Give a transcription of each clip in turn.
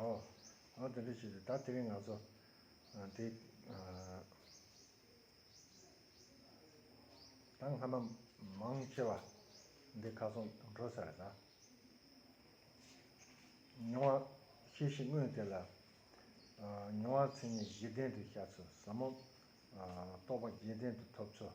ཨོ། ཨོ་དེ་འདྲ་ཞིག་རེད་ད་དེ་རིང་ང་ཚོ་དེ། ད་སྔ་མ་མང་ཆེ་བ་འདི་ཁ་སོང་འགྲོ་ས་རེད་ད། མྱོང་བ་ཤེས་ཤིག་དངོས་དེ་ལ། མྱོང་བ་མཚན་ཉིད་བཞི་ལྡན་དུ་ཤར་ཚུལ་ཟབ་མོ། རྟོགས་པ་བརྒྱད་ལྡན་དུ་ཐོབ་ཚུལ།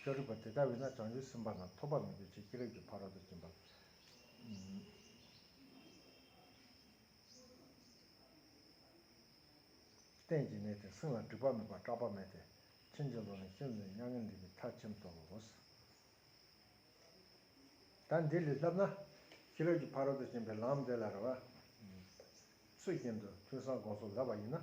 ཤཱ་རིའི་བུ་དེ་ལྟ་བས་ན་བྱང་ཆུབ་སེམས་དཔའ་དང་ཐོགས་པ་མེད་པའི་ཕྱིར་ཤེས་རབ་ཀྱི་ཕ་རོལ་ཏུ་ཕྱིན་པ། གཏན་གྱི་གནས་ཏེ་སེམས་ལ་སྒྲིབ་པ་མེད་པར་སྐྲག་པ་མེད་དེ། ཕྱིན་ཅི་ལོག་ནས་ཤིན་ཏུ་མྱ་ངན་འདས་པའི་མཐར་ཕྱིན་ཏོ། ད་འདི་ལས་བསླབས་ན། ཤེས་རབ་ཀྱི་ཕ་རོལ་ཏུ་ཕྱིན་པའི་ལམ་དེ་ལ་རེ་བ། ཚུལ་བཞིན་དུ་ཐོས་བསམ་སྒོམ་གསུམ་བསླབ་པ་ཡིན་ན།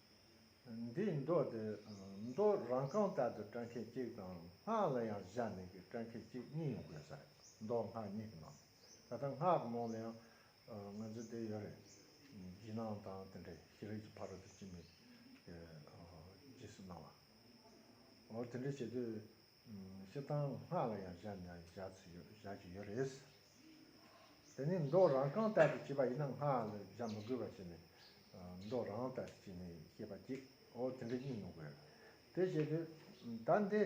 འདིའི་མདོ་དེ་མདོ་རང་རྐང་ལྟར་དུ་སྐྲ་མཁན་གཅིག་དང་སྔགས་ལ་ཡང་བཞག་ནས་ཀྱི་སྐྲ་མཁན་གཅིག་གཉིས་ཡོད་དགོས་ས་རེད་མདོ་སྔགས་གཉིས་ཀྱི་ནང་ད་ལྟ་སྔགས་ཀྱི་ནང་ལ་ཡང་ང་ཚོའི་དེ་ཡོད་རེད་བརྗིད་ནང་དང་དེ་འདྲའི་ཤེས་རིག་གི་ཕ་རོལ་ཏུ་ཕྱིན་པའི་རྗེས་སུ་གནང་བ་འོ་དེ་འདྲ་བྱེད་དུས་ཤི་སྟངས་སྔགས་ལ་ཡང་བཞག་ནས་བཞག་ཚུལ་ཡོད་བཞག་གི་ཡོད་རེད། དེ་ནི་མདོག་རང་གང་ལྟར་དུ་བྱེད་པ་ཡིན་ན་སྔགས་ལ་བཞག་མི་དགོས་པ་ཞིག་ནི། མདོག་རང་ལྟར་དུ་བྱས་ནས་ཤི་བ་ཅིག་འོ་དེ་འདྲ་གཉིས་མི་དགོས། དེ་བྱེད་དུས། ད་འདི།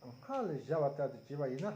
སྔགས་ལ་བཞག་པ་ལྟར་དུ་བྱེད་པ་ཡིན་ན།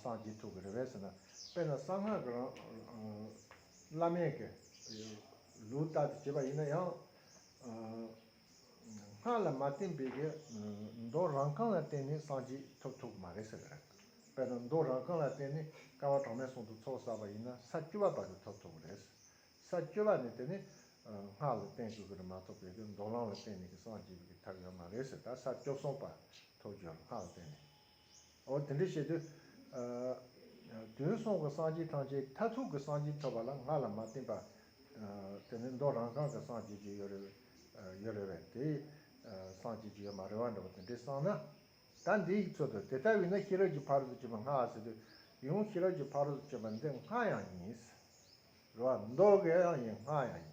སངས་རྒྱས་ཐུགས་ཀྱི་རེ་བས་ཟེར་ན། དཔེར་ན་གསང་སྔགས་ཀྱི་རང་བླ་མེད་ཀྱི་ལུས་ལྟར་དུ་བྱེད་པ་ཡིན་ན་ཡང། སྔགས་ལ་མ་བརྟེན་པའི་གྱི་མདོ་རང་གང་ལ་བརྟེན་ནས་སངས་རྒྱས་ཐོབ་ཐུབ་ཀྱི་མ་རེད་ཟེར། དཔེར་ན་མདོ་རང་གང་ལ་བརྟེན་ནས་སྐལ་བ་གྲངས་མེད་སྲུང་དུ་ཚོགས་བསགས་པ་ཡིན་ན་ས་བཅུ་བ་བར་དུ་ཐོབ་ཐུབ་ཀྱི་རེད། ས་བཅུ་བ་ནི་དེ་ནི་སྔགས་ལ་བརྟེན་དགོས་ཀྱི་རེད་མ་ཐོབ་པའི་གྱི་མདོ་རང་ལ་བརྟེན་ནས་གྱི་སངས་རྒྱས་པའི་གྱི་ཐབས་ཡོད་མ་རེད་ཟེར་ད་ས་བཅུ་གསུམ་བར་ཐོབ་རྒྱུ་ཡོད་ལ་སྔགས་ལ་བརྟེན་ནས། འོ་དེ་འདྲ་བྱེད་དུས། དུས་གསུམ་གྱི་སངས་རྒྱས་ཐམས་ཅད་མཐར་ཐུག་གི་སངས་རྒྱས་ཐོབ་པ་ལ་ང་ལ་མ་བསྟིམས་པ། དེ་ནི་མདོ་རང་གང་གི་སངས་རྒྱས་ཀྱི་ཡོད་རེད། རེད་བས། དེ་སངས་རྒྱས་ཀྱི་ཡོད་མ་རེད་བ་འདྲ་བོ་དེ་འདྲས་བསམ་ན། ད་འདི་ཡིག་ཚོད་དུ་དེ་ལྟ་བས་ན་ཤེས་རབ་ཀྱི་ཕ་རོལ་ཏུ་སྤྱོད་པ་སྔ་བ་ཟེར་དུས། ཡང་ཤེས་རབ་ཀྱི་ཕ་རོལ་ཏུ་སྤྱོད་པ་འདི་སྔ་ཡང་ཡིན། རེད་བ། མདོ་དགེ་ཡང་ཡིན་སྔ་ཡང་ཡིན།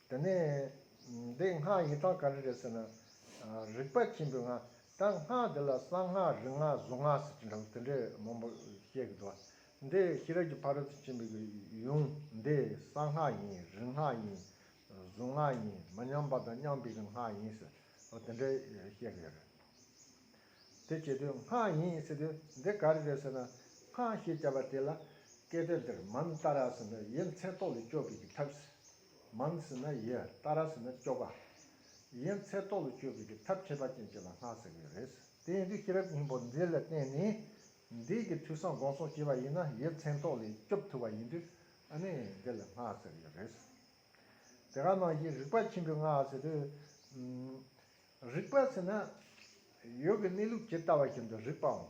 དེ་ནས་འདི་སྔགས་ཡི་དྭགས་ག་རེ་རེད་ཟེར་ན། རིག་པ་ཆེན་པོའི་སྔགས་ད་སྔགས་འདི་ལ་གསང་སྔགས་རིག་སྔགས་གཟུངས་སྔགས་ཟེར་གྱི་འདུག་དེ་འདྲའི་མང་པོ་བཤད་གི་འདུག་འདི་ཤེས་རབ་ཀྱི་ཕ་རོལ་ཏུ་ཕྱིན་པའི་ཡུམ་འདི་གསང་སྔགས་ཡིན་རིག་སྔགས་ཡིན་གཟུངས་སྔགས་ཡིན་མ་ཉམས་པ་དང་མཉམ་པའི་སྔགས་ཡིན་ཟེར་དེ་འདྲ་བཤད་གི་ཡོད་རེད། དེ་བྱེད་དུས་སྔགས་ཡིན་ཟེར་དུས་འདི་ག་རེ་རེད་ཟེར་ན་སྔགས་ཞེས་བྱ་བ་དེ་ལ་སྐད་དོད་འདིར་མམ་ཏཱ་ར་ཟེར་ན་དབྱེ་མཚན་རྟོག་ལས་སྐྱོབ་པའི་ཐབས། མང་ཟེར་ན་ཡི་རྟ་ར་ཟེར་ན་སྐྱོ་ག། ཡིན་ཚད་ལྟོ་ལ་སྐྱོ་བའི་གི་ཐབས་ཁྱད་པར་ཅན་གྱི་ལ་སྔགས་ཟེར་གི་རེད། དེ་ཡིན་དུས་ཤེས་རབ་སྙིང་པོ་འདི་ལ་བརྟེན་ནས་འདས་ཀྱི་དུས་སམ་དགོངས་གསོལ་བྱེད་པ་ཡིན་ན་ཡི་མཚན་ལྟོ་ལས་སྐྱོབ་ཐུབ་པ་ཡིན་དུས་ཨ་ནི་འདི་ལ་སྔགས་ཟེར་གི་རེད། དེ་ག་ནང་བཞིན་རིག་པ་ཆེན་པོའི་སྔགས་ཟེར་དུས། རིག་པ་ཟེར་ན། ཡོད་ཀྱི་གནས་ལུགས་ཇི་ལྟ་བ་བཞིན་དུ་རིག་པའམ།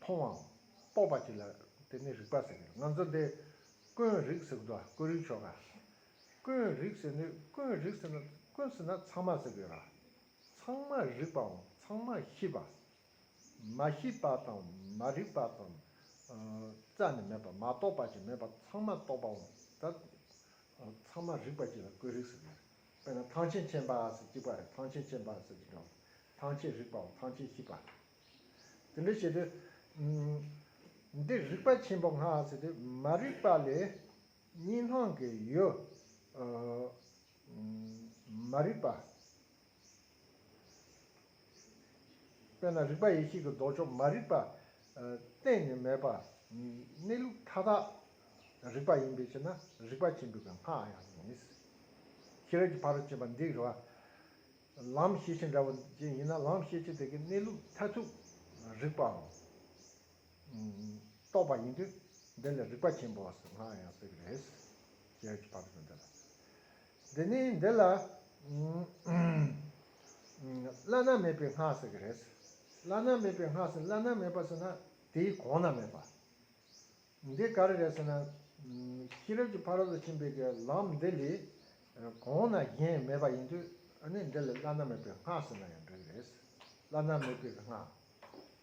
མཐོང་བའམ། སྤོབས་པ་ཅིག་ལ་དེ་ནི་རིག་པ་ཟེར་གྱི། ང་ཚོ་འདི། ཀུན་རིག་ཟེར་གྱི་འདུག་ཀུན་རིག་ཆོ་ག། ཀུན་རིག་ཟེར་ནི་ཀུན་རིག་ཟེར་ན་ཀུན་ཟེར་ན་ཚང་མ་ཟེར་གྱི། ཚང་མ་རིག་པའམ་ཚང་མ་ཤེས་པ། མ་ཤེས་པ་དང་མ་རིག་པ་དང། རྩ་ནས་མེད་པ་མ་རྟོགས་པ་ཅིག་མེད་པ་ཚང་མ་རྟོགས་པའམ། ཚང་མ་རིག་པ་ཅིག་ལ་ཀུན་རིག་ཟེར་གྱི། དཔེར་ན་ཐང་ཆེན་ཆེན་པ་སོ་གཅིག་པ་རེད་ཐང་ཆེན་ཆེན་པ་སོ་གཅིག་རེད་བ། ཐང་ཆེན་རིག་པའོ་ཐང་ཆེན་གཅིག་པ། དེ་འདྲ་བྱེད་དུས། འདིར་རིག་པ་ཆེན་པོ་ང་ཟེར་དུས་མ་རིག་པ་ལས་གཉིས་སྣང་གི་ཡོད། མ་རིག་པ། དཔེར་ན་རིག་པ་ཡེ་ཤེས་ཀྱི་ལྡོག་ཕྱོགས་མ་རིག་པ་གཏན་ནས་མེད་པ། གནས་ལུགས་མཐའ་དག་རིག་པ་ཡིན་པའི་ཕྱིར་ན་རིག་པ་ཆེན་པོའི་སྔགས་ཡང་ཡིན། ཤེས་རབ་ཀྱི་ཕ་རོལ་ཕྱིན་པ་འདི་རེ་བ། ལམ་ཤེས་བྱེད་འདྲ་བོ་ཅན་ཡིན་ན་ལམ་ཤེས་བྱེད་དེ་གའི་གནས་ལུགས་མཐར་ཐུག་རིག་པའམ། རྟོགས་པ་ཡིན་དུས་འདི་ལ་རིག་པ་ཆེན་པོའ་སྔགས་ཡང་ཟེར་གྱི་རེད། ཤེས་རབ་ཀྱི་ཕ་རོལ་ཕྱིན་འདི་ལ། འདི་ནི་འདི་ལ་བླ་ན་མེད་པའི་སྔགས་ཟེར་གྱི་རེད། བླ་ན་མེད་པའི་སྔགས་ཟེར་བླ་ན་མེད་པ་ཟེར་ན་དེའི་གོང་ན་མེད་པ། འདི་ག་རེ་རེད་ཟེར་ན། ཤེས་རབ་ཀྱི་ཕ་རོལ་ཏུ་ཕྱིན་པའི་གྱི་ལམ་འདི་ལས་གོང་ན་གཞན་མེད་པ་ཡིན་དུས་ནི་འདི་ལ་བླ་ན་མེད་པའི་སྔགས་ཟེར་ན་ཡང་འགྲིག་གི་རེད། བླ་ན་མེད་པའི་སྔགས།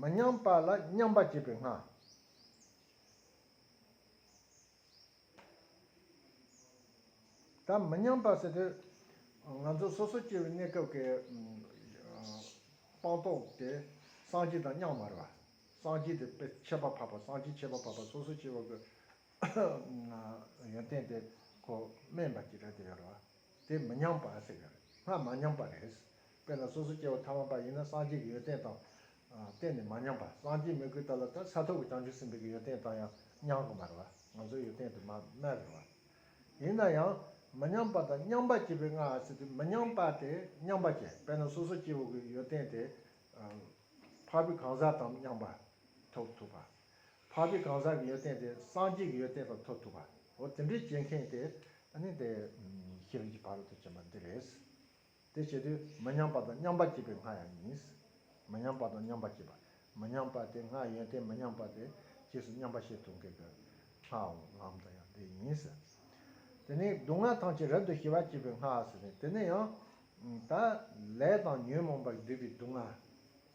མི་མཉམ་པ་ལ་མཉམ་པར་བྱེད་པའི་སྔགས། དང་མི་མཉམ་པ་ཟེར་དུས། ང་ཚོ་སོ་སོ་སྐྱེ་བོའི་གནས་སྐབས་ཀྱི་སྤངས་རྟོགས་དེ་སངས་རྒྱས་དང་མཉམ་བར་བ། སངས་རྒྱས་དེ་དཔེ་ཆད་པ་འཕགས་པ་སངས་རྒྱས་ཆད་པ་འཕགས་པ་སོ་སོ་སྐྱེ་བོ་གི་ཡོན་ཏན་དེ་ཁོ་དམན་པ་ཇི་ལྟར་དེ་ཡོད་བར་བ། དེ་མི་ཉམས་པར་ཟེར་ཡོད་རེད། སྔར་མ་ཉམས་པ་རེད། དཔེར་ན་སོ་སོ་སྐྱེ་བོ་ཐ་མ་པ་ཡིན་ན་སངས་རྒྱས་ཀྱི་ཡོན་ཏན་དང། གཏན་ནས་མ་ཉམས་པ། སངས་རྒྱས་མི་དགོས་ད་ལ་ད་ས་ཐོབ་ཀྱི་བྱང་ཆུབ་སེམས་དཔའི་གྱི་ཡོན་ཏན་དང་ཡང་མཉམ་གི་མ་རེད་བ། ང་ཚོའི་ཡོན་ཏན་དུ་མ་མེད་རེད་བ། ཡིན་ན་ཡང། མི་ཉམས་པ་དང་མཉམ་པ་སྐྱེས་པའི་སྔ་ཟེར་དུས་མི་ཉམས་པ་དེ་མཉམ་པ་སྐྱེ་དཔེར་ན་སོ་སོ་སྐྱེ་བོ་གི་ཡོན་ཏན་དེ། འཕགས་པའི་གང་ཟག་དང་མཉམ་པ། ཐོབ་ཐུབ་བ། འཕགས་པའི་གང་ཟག་གི་ཡོན་ཏན་དེ་སངས་རྒྱས་ཀྱི་ཡོན་ཏན་དང་འཐོབ་ཐུབ་པ། འོ་དེ་འདྲའི་བྱེད་མཁན་དེ་ནི་དེ་ཤེས་རིག་གི་བར་དུ་བྱེད་པ་འདི་རེད། དེ་བྱེད་དུས་མི་མཉམ་པ་དང་མཉམ་པ་བྱེད་པའི་ང་ཡང་ཡིན། མི་མཉམ་པ་དང་མཉམ་པ་བྱེད་པ། མི་མཉམ་པ་དེ་ང་ཡོན་ཏན་མི་མཉམ་པ་དེ་རྗེས་སུ་མཉམ་པ་ཤེས་ཐུབ་མཁན་གྱི་ངའོ་ལམ་དང་ཡང་དེ་ཡིན། དེ་ནི་སྡུག་བསྔལ་ཐམས་ཅད་རབ་ཏུ་ཞི་བར་བྱེད་པའི་ང་ཟེར་ནས་དེ་ནི་ཡང་དག་ལས་དང་ཉོན་མོངས་པར་བསྡུས་པའི་སྡུག་བསྔལ།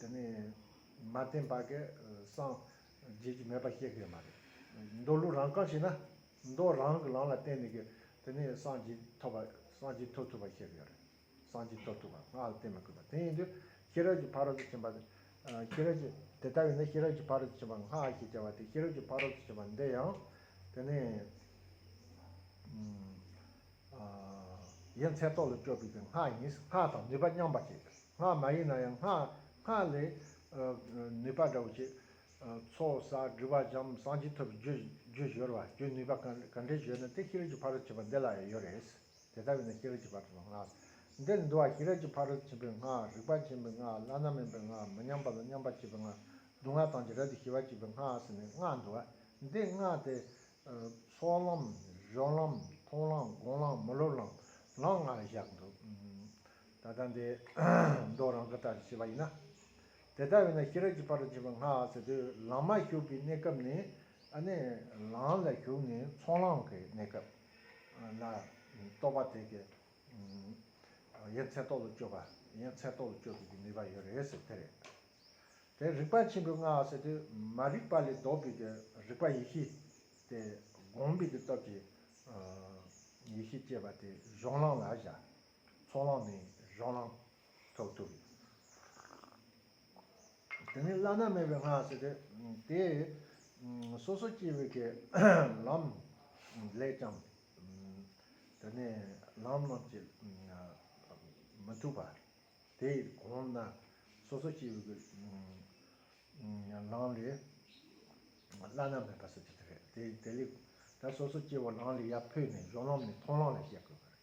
དེ་ནས་མ་བསྟན་པ་གས་སངས་རྒྱས་ཀྱི་མེད་པ་བཤད་གི་མ་རེད། མདོ་ལུགས་རང་གང་ཞིག་ན་མདོ་རང་གི་ལམ་ལ་བརྟེན་ནས་གི་དེ་ནས་སངས་རྒྱས་ཐོབ་པ་སངས་རྒྱས་ཐོབ་ཐུབ་པ་བཤད་གི་ཡོད་རེད། སངས་རྒྱས་ཐོབ་ཐུབ་པ་སྔགས་ལ་བརྟེན་མི་དགོས་པ་དེ་ཡིན་དུས་ཤེས་རབ་ཀྱི་ཕ་རོལ་ཏུ་ཕྱིན་པ་ཤེས་རབ་ཀྱི་དེ་ལྟ་བས་ན་ཤེས་རབ་ཀྱི་ཕ་རོལ་ཏུ་ཕྱིན་པ་སྔགས་ཞེས་བྱ་བ་དེ་ཤེས་རབ་ཀྱི་ཕ་རོལ་ཏུ་ཕྱིན་པ་འདི་ཡང་དེ་ནས་ཡན་ཚད་རྟོག་ལ་སྤྱོད་པའི་སྔགས་ཡིན་སྔགས་དང་ནུས་པ་མཉམ་པ་བྱེད། སྔགས་མ་ཡིན་ན་ཡང་སྔགས་སྔགས་ལས། ནུས་པ་དགྲ་བོ་བཅད། ཚོགས་བསགས་སྒྲིབ་བག་འཇམ་གསང་ཅི་ཐུབ་རྒྱུད་གཞོལ་བ་རྒྱུད་ནུས་པ་གང་འདྲས་བརྗོད་ན་དེ་ཤེས་རབ་ཀྱི་ཕ་རོལ་ཕྱིན་པ་འདི་ལ་ཡང་ཡོད་རེད། དེ་ལྟ་བས་ན་ཤེས་རབ་ཀྱི་ཕ་རོལ་སྔགས། འདིར་འདུ་བ་ཤེས་རབ་ཀྱི་ཕ་རོལ་ཕྱིན་པའི་སྔགས་རིག་པ་མཁྱེན་པའི་སྔགས་བླ་ན་མེད་པའི་སྔགས་མི་མཉམ་པ་ལ་མཉམ་པར་བྱེད་པའི་སྔགས་སྡུག་བསྔལ་དང་བྱེ་བྲག་ཏུ་ཞི་བར་བྱེད་པའི་སྔགས་ཟེར་ནས་སྔགས་འདུ་བ་འདི་སྔགས་ཏེ། སྲོག་ལམ། རོ་ལམ། མཐོང་ལམ། དགོངས་ལམ། མི་སློབ་ལམ། ལམ་ལྔར་བཞག་འདུག། ད་ལྟ་འདི་མདོ་རང་གི་ལྟར་བྱས་པ་ཡིན་ན། དེ་ལྟར་བས་ན་ཤེས་རབ་ཀྱི་བར་དུ་འབྱིན་པར་སྔགས་ཟེར་དུས་ལམ་མ་ཞུགས་པའི་གནས་སྐབས་ནི་ནི། ལམ་ལ་ཞུགས་ནས་ཚོགས་ལམ་གྱི་གནས་སྐབས་ལ། རྟོག་པ་དེ་ཀྱི་ཡན་ཚད་རྟོག་ལ་སྤྱོད་པ་ཡན་ཚད་རྟོག་ལ་སྤྱོད་པའི་ནུས་པ་ཡོད་རེད་ཟེར་དེ་རེད། དེ་རིག་པ་ཆེན་པོའི་སྔགས་ཟེར་དུས་མ་རིག་པ་ལས་ལྡོག་པའི་ཀྱི་རིག་པ་ཡེ་ཤེས་དེ་བསྒོམས་པའི་ཀྱི་སྟོབས་ཀྱིས་ཡེ་ཤེས་སྐྱེས་པ་དེ་གཞུང་ལམ་ལ་བཞག། ཚོགས་ལངས་ནས་རང་ལངས་ཐོབ་ཐུབ། དེ་ནི་བླ་ན་མེད་པའི་སྔགས་ཟེར་ཏེ། དེས་སོ་སོ་སྐྱེ་བོའི་ཀྱི་ལམ་ལས་ཀྱང། དེ་ནས་ལམ་རྣམས་ཀྱི་མི་ཐུབ་པ། དེས་གོང་ན་སོ་སོ་སྐྱེ་བོའི་ཀྱི་ལམ་ལས་བླ་ན་མེད་པ་ཟེར་གྱི་དེ་རེད། དེ་ལས་ད་སོ་སོ་སྐྱེ་བོ་ལམ་ལས་ཡར་འཕོས་ནས་རང་ལམ་ནས་མཐོང་ལམ་ལ་སྐྱེ་དགོས་པ་རེད།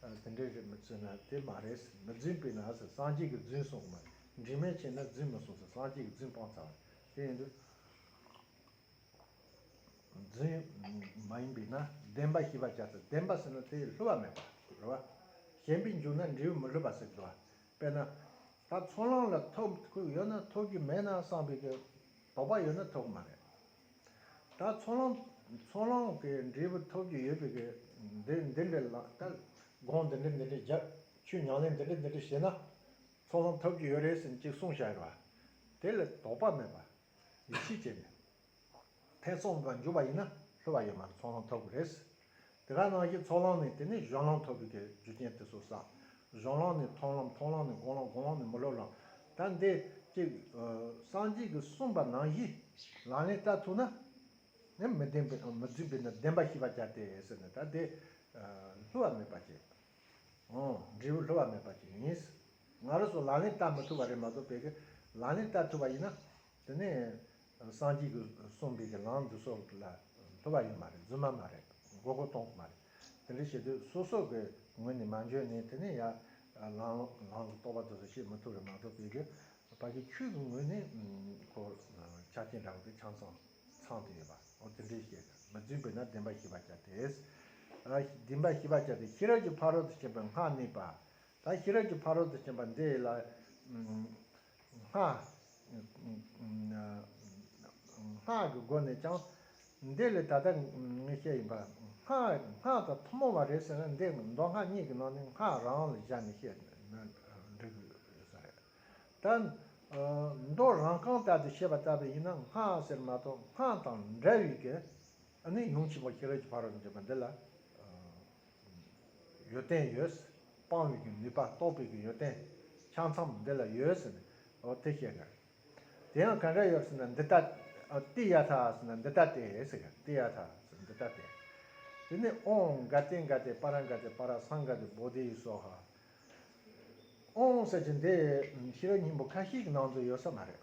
དེ་འདྲའི་རེད་མི་བརྩི་ན་དེ་མ་རེད་ཟེར་མི་རྫུན་པས་ན་ཟེར་སངས་རྒྱས་ཀྱི་རྫུན་གསུངས་མ་རེད་འདྲིས་མེད་བྱས་ན་རྫུན་མི་གསུངས་ཟེར་སངས་རྒྱས་ཀྱི་རྫུན་སྤང་ཚར་བ་རེད་དེ་ཡིན་དུས་རྫུན་མ་ཡིན་པས་ན་བདེན་པ་ཞེས་པ་བྱ་ཚེ་བདེན་པ་ཟེར་ན་དེ་ལྷོད་བ་མེད་པ་རེད་བ། གཞན་པའི་མཇུག་ན་འབྲས་བུ་མི་ལྷོད་པ་ཟེར་གི་བ། དཔེར་ན། ད་ཚོང་ལང་ལ་ཐོག་ཁུག་ཡོད་ན་ཐོག་གི་མེད་ན་སངས་པའི་གི་དོགས་པ་ཡོད་ན་ཐོག་མ་རེད། ད་ཚོང་ལོང་ཚོང་ལོང་གི་འབྲས་བུ་ཐོབ་ཀྱི་ཡོད་པའི་འདི་འདི་འདྲའི་ལ་ད་དགོངས་འདི་འདྲི་འདི་འདྲི་རྒྱབ་ཆོས་ཉང་ལེན་འདི་འདྲི་འདི་འདྲི་བྱས་ན་ཚོང་ལོང་ཐོབ་ཀྱི་ཡོད་རེད་ཟིན་ཅིག་གསུངས་བྱ་བ་དེ་ལ་དོགས་པ་མེད་པར་ཡིད་ཆེས་བྱས་ནས་ཐེ་ཚོམ་འཇུག་པ་ཡིན་ན་ལྷོད་པ་ཡོད་མ་རེད་ཚོང་ལོང་ཐོབ་གི་རེད། དེ་ག་ནང་བཞིན་ཚོགས་ལམ་ནི་དེ་ནི་གཞུང་ལམ་ཐོབ་པའི་གེགས་རྒྱུ་རྐྱེན་དེ་སོགས་བསགས། གཞུང་ལམ་ནི་མཐོང་ལམ་མཐོང་ལམ་ནི་དགོངས་ལམ་དགོངས་ལམ་ནི་མི་སློབ་ལམ། ད་འདི་གཅིག། སངས་རྒྱས་ཀྱིས་གསུངས་པ་ནང་བཞིན་ལག་ལེན་བསྟར་ཐུབ་ན། ནི་མི་བདེན་པའི་མི་རྫུན་པའི་ནི་བདེན་པ་ཤེས་པར་བྱ་སྟེ་ཟེར་ནས་ད་འདི། ལྷུ་བ་མེད་པར་བྱེད། འབྲས་བུ་ལྷུ་བ་མེད་པར་བྱེད་ཡིན། ང་རོ་སོགས་ལག་ལེན་བསྟར་མི་ཐུབ་པ་རེད་མ་གཏོགས་བལ་གྱི་ལག་ལེན་བསྟར་ཐུབ་པ་ཡིན་ན། དེ་ནས་སངས་རྒྱས་ཀྱི་གསུང་འདི་ཀྱི་ལམ་དུ་སོགས་ལ་ཐོབ་པ་ཡིན་མ་རེད་རྫུན་མ་མ་རེད་མགོ་སྐོར་གཏོང་གི་མ་རེད་དེ་འདྲ་བྱེད་དུས་སོ་སོ་གི་ངོས་ནས་མ་འཇོན་ནས་དེ་ནས་ཡར་ལངས་ལངས་གི་རྟོག་པ་དེ་ཚོ་བཤད་མི་ཐུབ་རེད་མ་གཏོགས་བོད་རྒྱ་བར་གྱི་ཆོས་ཀྱི་ངོས་ནས་ཁོ་ཆ་རྐྱེན་འདྲ་བོ་དེ་ཆང་ཚང་ཚང་དུ་ཡོད་པ་འོ་དེ་འདྲའི་བཤད་ན་མི་རྫུན་པས་ན་བདེན་པ་ཞི་བར་བྱ་དེ་བདེན་པ་ཞི་བར་བྱ་དེ་ཤེས་རབ་ཀྱི་ཕ་རོལ་ཏུ་ཕྱིན་པའི་སྔགས་གནས་པ་ད་ཤེས་རབ་ཀྱི་ཕ་རོལ་ཏུ་ཕྱིན་པ་འདི་ལ། སྔགས་ཀྱི་སྒོ་ནས་ཀྱང། འདི་ལས་ད་ལྟ་ངས་བཤད་བཞིན་པ། སྔགས་དང་ཐུན་མོང་བ་རེད་ཟེར་ན་འདི་མདོ་སྔགས་གཉིས་ཀྱི་ནང་ནས་སྔགས་རང་ལ་བཞག་ནས་བཤད་ན་འགྲིག་དགོས་ས་རེད། ད། མདོ་རང་གང་ལྟར་དུ་བཤད་པ་ལྟ་བུ་ཡིན་ན་སྔགས་ཟེར་མ་གཏོགས་སྔགས་དང་འདྲ་བའི། ནི་ཡུམ་ཆེན་པོ་ཤེས་རབ་ཀྱི་ཕ་རོལ་ཏུ་འབྱོན་པ་འདི་ལ། ཡོད་བསྟན་ཡོད། སྤང་བའི་གི་ནུས་པ་རྟོགས་པའི་གི་ཡོད་བསྟན། ཆ་མཚམས་འདི་ལ་ཡོད་ཟེར་ནས་ཨོ་དེ་བཤད་གི། དེ་ཡང་གང་ག་ཡོད་ཟེར་ན་འདི་ལྟ། ཏི་ཡ་ཐ་ཟེར་ན་འདི་ལྟ་སྟེ་ཟེར་གི་ཏི་ཡ་ཐ་ཟེར་འདི་ལྟ་སྟེ། དེ་ནས་ཨོང་ག་ཏེ་ག་ཏེ་པ་ར་ག་ཏེ་པ་ར་སང་ག་ཏེ་བོ་དེ་ཡི་སོགས་ཧ། ཨོང་ཟེར་གྱི་འདི་ཤེས་རབ་སྙིང་པོ་ཁ་ཤས་ཀྱི་ནང་དུ་ཡོད་ས་མ་རེད།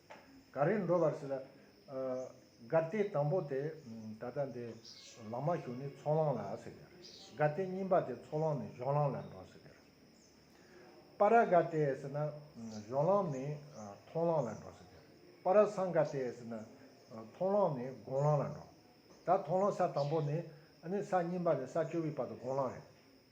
ག་རེ་འགྲོ་བར་སྲིད། དགའ་བདེ་དང་པོ་དེ་ད་ལྟ་འདི་ལང་མ་ཞུགས་ནི་ཚོགས་ལང་ལ་སྲིད། དགའ་བདེ་གཉིས་པ་དེ་ཚོགས་ལང་ནས་གཞོགས་ལང་ལ་འགྲོ་སྲིད། པ་ར་དགའ་བདེ་སྲིད་ན་གཞོགས་ལང་ནས་མཐོང་ལང་ལ་འགྲོ་སྲིད། པ་ར་སངས་དགའ་བདེ་སྲིད་ན་མཐོང་ལང་ནས་དགོངས་ལང་ལ་འགྲོ། ད་མཐོང་ལང་ས་དང་པོ་ནི་ནི་ས་གཉིས་པ་ནས་ས་བཅོ་བའི་བར་དུ་དགོངས་ལང་རེད།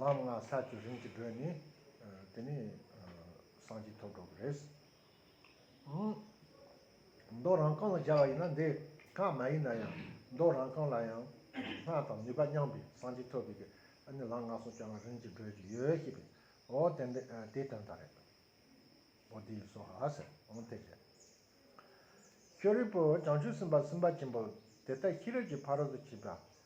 ལམ་ལྔ་ས་བཅུ་རིམ་གྱིས་བགྲོད་ནས། དེ་ནས་སངས་རྒྱས་ཐོབ་འགྲོ་གི་རེད། མདོག་རང་རྐང་ལ་སྦྱར་བ་ཡིན་ན་འདི་ཀ་མ་ཡིན་ན་ཡང་མདོག་རང་རྐང་ལ་ཡང་སྔགས་དང་ནུས་པ་མཉམ་པའི་སངས་རྒྱས་ཐོབ་པའི་ཨ་ནི་ལམ་ལྔ་སོ་བཅུ་ལྔ་རིམ་གྱིས་བགྲོད་ཀྱི་ཡོད་ཤེས་པས་འོ་དེ་འདི་དེའི་དོན་དག་རེད། འོ་དེ་ཡིན་སོ་ཧ་ཟེར་འོང་དེ་རེད། ཤོ་རི་པོ་བྱང་ཆུབ་སེམས་དཔའ་སེམས་དཔའ་ཆེན་པོ་དེ་ལྟ་ཤེས་རབ་ཀྱི་ཕ་རོལ་ཏུ་ཕྱིན་པ་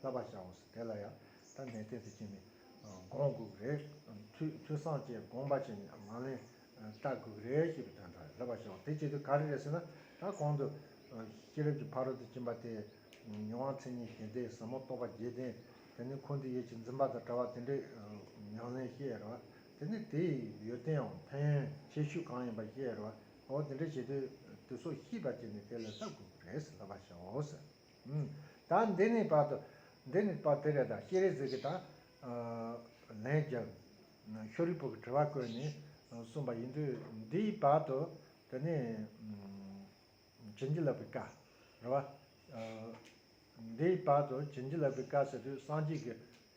བསླབ་པར་བྱའོ། དེ་ལ་ཡང་ཐ་མལ་གཏན་ཚིགས་ཅན་ནི། དགོངས་དགུག་རེ། ཐོས་བསམ་བཅས་དགོངས་པ་ཅན་ནི་མ་ལན། ལྟ་དགུག་རེ་ཞེས་པའི་དོན་ཏོ། བསླབ་པར་བྱའོ། དེ་བྱེད་དུ་ག་རེ་རེད་ཟེར་ན། ད་གོང་དུ། ཤེས་རབ་ཀྱི་ཕ་རོལ་ཏུ་ཕྱིན་པ་སྟེ། མྱོང་བ་མཚན་ཉིད་ཞེན་ཏེ་ཟབ་མོ་རྟོགས་པ་བརྒྱད་ལྡན། དེ་ནི་འཁོར་འདས་ཡིད་ཀྱི་འཛིན་པ་དང་བྲལ་བ་དེ་འདྲའི། མྱང་ལེན་ཤེས་རབ། དེ་ནི་དེའི་ཡོན་ཏནའང་ཕན། ཆེ་ཤོས་གང་ཡིན་པ་ཤེས་རབ། འོ་དེ་འདྲ་བྱེད་དུས། དུས་སོགས་ཤིས་པ་ཅན་ནི་དེ་ལ་ལྟ་དགུག་རེ། བསླབ་པར་བྱའོ། དང། འདི་ནི་བར་དོ། འདི་ནི་བར་དེ་རེ་དང་ཤེས་རེ་ཟིག་གི་དང། ལན་བརྒྱབ། ཤོ་རི་པོ་གི་དྲི་བ་བཀོད་ནས་གསུངས་པ་ཡིན་དུས་འདིའི་བར་དོ། དེ་ནི། བྱིན་གྱིས་བརླབས་པའི་བཀའ། རེ་བ། འདིའི་བར་དོ་བྱིན་གྱིས་བརླབས་པའི་བཀའ་ཟེར་དུས་སངས་རྒྱས་ཀྱི།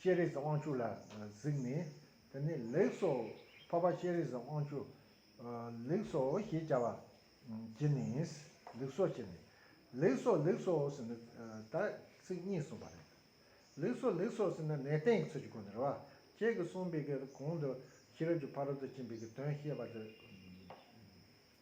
ཤེས་རིག་གི་དབང་ཕྱུག་ལ་གཟིགས་ནས་དེ་ནི་ལེགས་སོ། འཕགས་པ་ཤེས་རིག་གི་དབང་ཕྱུག་ལེགས་སོ་ཞེས་བྱ་བ་གྱིས་ནི་ལེགས་སོ་བྱས་ནས། ལེགས་སོ་ལེགས་སོ་ཟེར་ནས་ད་ཚིག་གཉིས་གསུངས་པ་རེད། ལེགས་སོ་ལེགས་སོ་ཟེར་ནས་ནས་བསྟན་གྱི་ཚུལ་གྱི་སྒོ་ནས་རེ་བ་ཁྱེད་ཀྱིས་གསུངས་པའི་གོང་དུ་ཤེས་རབ་ཀྱི་ཕ་རོལ་ཏུ་ཕྱིན་པའི་དོན་བཤད་པ་དེ།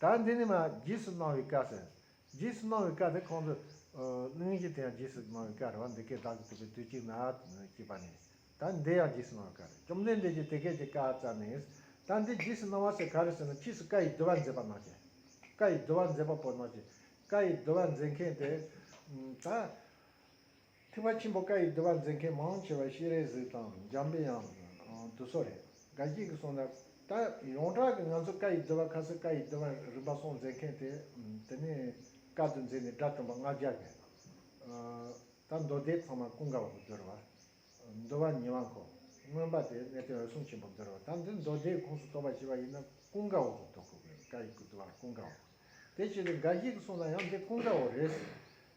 ད་འདི་ནི་མ་རྗེས་སུ་གནང་བའི་བཀའ་ཟེར། རྗེས་སུ་གནང་བའི་བཀའ་དེ་ཁོང་ཚོས། གླིང་བཞི་དེ་ཡང་རྗེས་སུ་གནང་བའི་བཀའ་རེད་བ་འདི་སྐད་བདག་གིས་ཐུབ་པའི་དུས་གཅིག་ན། ཅེས་པ་ནས། ད་འདི་ཡང་རྗེས་སུ་གནང་བའི་བཀའ་རེད་བཅོམ་ལྡན་འདས་ཀྱིས་དེ་སྐད་ཅེས་བཀའ་སྩལ་ནས། ད་འདི་རྗེས་སུ་གནང་བ་སེ་ག་རེད་ཟེར་ན་ཕྱིས་སུ་བཀའ་ཡི་བསྡུ་བ་མཛད་པ་ནག་ཅེས། བཀའ་ཡི་བསྡུ་བ་མཛད་པ་པོ་ནག་ཅེས། བཀའ་ཡི་བསྡུ་བ་མཛད་མཁན་དེ། ད། ཐེག་པ་ཆེན་པོ་བཀའ་ཡི་བསྡུ་བ་མཛད་མཁན་མང་ཆེ་བ་ཤེས་རེ་ཟིག་དང་འཇམ་དཔལ་ཡང་དུ་སོགས་རེད་དགའ་སྐྱིད་ཀྱི་གསུང་རབ་ད་ཡོངས་གྲགས་ཀྱི་ང་ཚོ་བཀའ་ཡི་བསྡུ་བ་ཁ་སེར་བཀའ་ཡི་བསྡུ་བ་རིམ་པ་སོགས་མཛད་མཁན་དེ་དེ་ནས་བཀའ་བསྡུ་མཛད་ནས་དགྲ་བཅོམ་པ་ལྔ་བརྒྱ་བརྒལ་ད་མདོ་སྡེ་ཚང་མ་ཀུན་དགའ་བོ་བསྡུར་བ་བསྡུ་བ་ཉི་མ་གོ་སྔོན་པ་དེ་གནས་བརྟན་འོད་སྲུང་ཆེན་པོ་བསྡུར་བ་ད་འདི་མདོ་སྡེའི་ཁོངས་སུ་གཏོགས་པ་ཞེས་པ་ཡིན་ན་ཀུན་དགའ་བོ་བསྡུ་དགོས་གི་བཀའ་ཡི་བསྡུ་བ་ཀུན་དགའ་བོ་དེ་བྱས་ཏེ་དགའ་སྐྱིད་ཀྱི་གསུང་ན་ཡང་འདི་ཀུན་དགའ་བོ་རེད་ཟེར་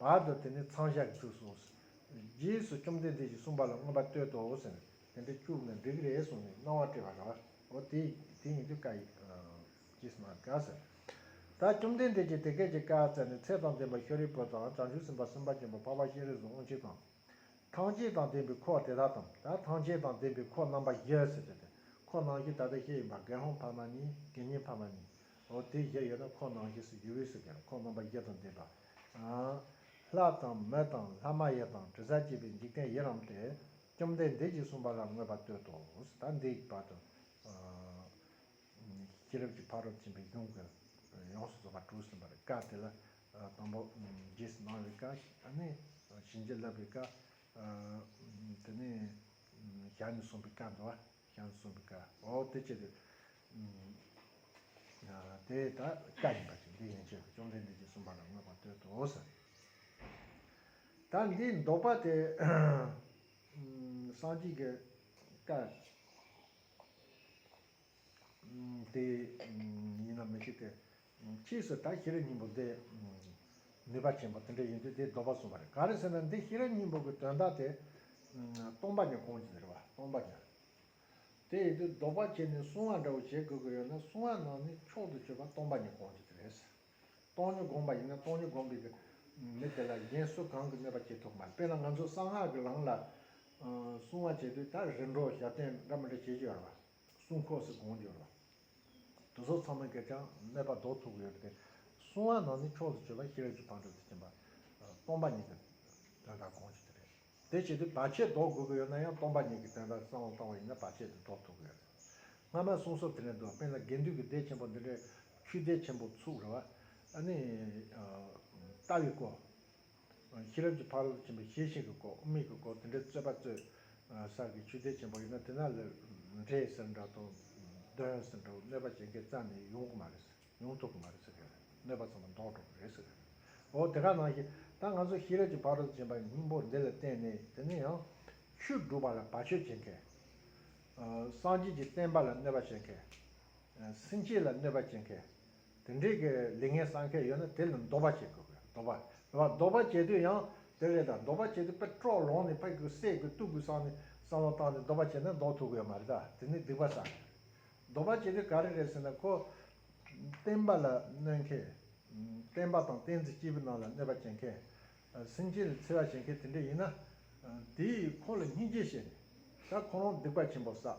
བར་དུ་དེ་ནི་ཚང་བཞག་གི་ཚུལ་གསུངས། རྗེས་སུ་བཅོམ་ལྡན་འདས་ཀྱིས་གསུངས་པ་ལ་མངོན་པར་བསྟོད་དོ་ཟེར་ནས་དེ་འདྲ་བཅུག་ནས་འགྲིག་རེད་གསུངས་ནས་སྣང་བ་སྤྲོས་པ་ར་འོ་དེ་དེ་ཡིན་དུས་བཀའ་ཡིས་ཀྱིས་གནང་དཀའ་ཟེར། ད་བཅོམ་ལྡན་འདས་ཀྱིས་དེ་སྐད་ཅེས་བཀའ་སྩལ་ནས་ཚེ་དང་ལྡན་པ་ཤཱ་རིའི་བུ་དང་བྱང་ཆུབ་སེམས་དཔའ་སེམས་དཔའ་ཆེན་པོ་འཕགས་པ་ཤཱ་རིའི་གཟུགས་དབང་ཕྱུག་དང། ཐང་ཅད་དང་ལྡན་པའི་འཁོར་དེ་དག་དང་ད་ཐང་ཅད་དང་ལྡན་པའི་འཁོར་རྣམ་པ་བཞི་ཟེར་བྱ་སྟེ་འཁོར་སྣང་བཞི་ད་ལྟ་བཤད་ཡོད་པ་དགེ་སློང་འཕགས་མ་ནི་དགེ་བསྙེན་འཕགས་མ་ནི། འོ་དེ་བཞི་ཡོད་ན་ཁོང་ནང་བཞིན་སུ་ཡུལ་དབུས་སུ་ཀྱང་ཁོང་རྣམ་པ་བརྒྱད་དང་ལྡན་པ། ལྷ་དང་མི་དང་ལྷ་མ་ཡི་དང་དྲི་ཟ་བྱེད་པའི་འཇིག་རྟེན་ཡི་རང་སྟེ། བཅོམ་ལྡན་འདས་ཀྱིས་གསུངས་པ་ལ་མངོན་པར་བསྟོད་དོ། ད་འདི་ཡི་བར་དུ། ཤེས་རབ་ཀྱི་ཕ་རོལ་ཕྱིན་པའི་གཞུང་གི་ཡོངས་སུ་རྫོགས་པ་དྲུག་ཟིན་པར་བཀའ་དེ་ལ། དང་པོ། རྗེས་སུ་གནང་བའི་བཀའ། ནི། བྱིན་གྱིས་བརླབས་པའི་བཀའ། དེ་ནས། ཞལ་ནས་གསུངས་པའི་བཀའ་འདི་བ། ཀྱང་གསུངས་པའི་བཀའ་འོ་དེ་ཅི་སྟེ། དེ་ད་བཀའ་ཡིན་པ་ཅིག་འདི་ཡན་ཆད་དུ་བཅོམ་ལྡན་འདས་ཀྱིས་གསུངས་པ་ལ་མོས་པར་བསྟོད་དོ། ད་འདི་འདོགས་པ་དེ། སངས་རྒྱས་ཀྱི་བཀའ། དེ་ཡིན་ན་མི་ཤེས་ཏེ། ཕྱིས་སུ་ད་ཤི་ར་སྙིང་པོ་འདི། ནུས་པ་ཆེན་པོ་དེ་འདྲ་ཡིན་དུས་དེའི་ལྡོག་པ་གསུངས་པ་རེད་ག་རེ་ཟེར་ན་འདི་ཤི་ར་སྙིང་པོ་གི་དོན་དག་དེ། སྟོང་པ་ཉིད་གོང་གི་ཟེར་བ་སྟོང་པ་ཉིད། དེ་ཡིན་དུས་ལྡོག་པ་བྱས་ནས་གསུང་བ་འདྲ་བོ་བྱེད་དགོས་ཀྱི་ཡོད་ན་གསུང་བ་ནང་ནས་མཆོག་ཏུ་སྤྱོད་པ་སྟོང་པ་ཉིད་གོང་གི་དེ་རེད། སྟོང་ཉིད་དགོངས་པ་ཡིན་ན་སྟོང་ཉིད་དགོངས་པའི། མི་དེ་ལ་གཞན་སུ་གང་གིས་གནོད་པ་བྱེད་ཐུབ་མ་རེད་དཔེར་ན་ང་ཚོ་གསང་སྔགས་ཀྱི་ལམ་ལ། གསུང་བ་བྱེད་དུས་ད་རིམ་གྲོ་ཞབས་བརྟན་འདྲ་མི་འདྲ་བྱེད་ཀྱི་ཡོད་རེད་བ། གསུང་ཁོག་སུ་དགོངས་ཀྱི་ཡོད་རེད་བ། དུ་སོགས་ཚང་མའི་གེགས་ཀྱང་གནས་པ་བཟློག་ཐུབ་ཡོད་པ་སྟེ། གསུང་དབང་ནང་ནས་ཕྱོགས་སུ་བཅོས་པ་ཤེས་རབ་ཀྱི་བང་མཛོད་དུ་བྱིན་པ། སྟོང་པ་ཉིད་ཀྱི་དོན་དག་གོང་བཞིན་དུ་རེད། དེ་བྱེད་དུས་བར་ཆད་བཟློག་དགོས་ཀྱི་ཡོད་ན་ཡང་སྟོང་པ་ཉིད་ཀྱི་དོན་དག་གསང་དབང་བཏང་བ་ཡིན་ན་བར་ཆད་དེ་བཟློག་ཐུབ་ཀྱི་ཡོད་རེད། སྔ་མའི་གསུང་སོབ་དེ་ནས་འདུག་དཔེར་ན་དགེ་འདུན་གྱི་སྡེ་ཆེན་པོ་འདི་འདྲའི་ཆུའི་སྡེ་ཆེན་པོ་ཚུགས་རེ་བ། ཨ་ནི། ལྟ་བའི་སྐོར། ཤེས་རབ་ཀྱི་ཕ་རོལ་ཏུ་ཕྱིན་པའི་ཤེས་བཞིན་གྱི་སྒོ་དམིགས་ཀྱི་སྒོ་དེ་འདྲའི་རྩོད་པ་རྩོད། སར་གྱི་ཆུ་ཟླའི་ཆེན་པོ་ཡིན་ན་དེ་ན་ལས་འབྲས་ཟེར་འདྲ་དང། གདོན་ཟེར་འདྲ་བ་གནོད་པ་གཞན་གྱིས་བརྩམས་ནས་ཡོང་གི་མ་རེད། ཡོང་ཐུབ་ཀྱི་མ་རེད་ཟེར་གྱི་རེད། གནོད་པ་ཚང་མ་ཟློག་འགྲོ་གི་རེད་ཟེར་གྱི་རེད། འོ་དེ་ག་ནང་བཞིན་ད་ང་ཚོ་ཤེས་རབ་ཀྱི་ཕ་རོལ་ཏུ་ཕྱིན་པ་སྙིང་པོ་འདི་ལ་བརྟེན་ནས་དེ་ནས་ཡང། ཆོས་སྒྲུབ་པ་ལ་བར་ཆོད་བྱེད་མཁན། སངས་རྒྱས་ཀྱི་བསྟན་པ་ལ་གནོད་པ་བྱེད་མཁན། སེམས་ཅན་ལ་གནོད་པ་བྱེད་མཁན། དེ་འདྲའི་གི་ལས་ངན་བསགས་མཁན་ཡོད་ན་དེ་ལ་འདོགས་པ་བྱེད་དགོས་གི་འདོགས་པ་འདོགས་པ་འདོགས་པ་བྱེད་དུས་ཡང་དེ་རེད་ད་འདོགས་པ་བྱེད་དུས་པད་ཀྲོག་ལོང་ནས་ཕ་གི་གསད་དགོས་གཏུག་དགོས་བསགས་ནས་བསམ་བློ་བཏང་ནས་འདོགས་པ་བྱེད་ན་འདོགས་ཐུབ་གི་ཡོད་མ་རེད་ད་དེ་ནི་སྡིག་པ་བསགས་མཁན་རེད་འདོགས་པ་བྱེད་དུས་ག་རེ་རེད་ཟེར་ན་ཁོ་བསྟན་པ་ལ་གནོད་མཁན། བསྟན་པ་དང་བསྟན་འཛིན་སྐྱེས་བུ་རྣམས་ལ་གནོད་པ་བྱེད་མཁན། སེམས་ཅན་ལ་འཚེ་བ་བྱེད་མཁན་དེ་འདྲ་ཡིན་ན་དེས་ཁོ་ལ་སྙིང་རྗེ་བྱས་ནས་ད་ཁོ་རང་སྡིག་པ་ཆེན་པོ་བསགས།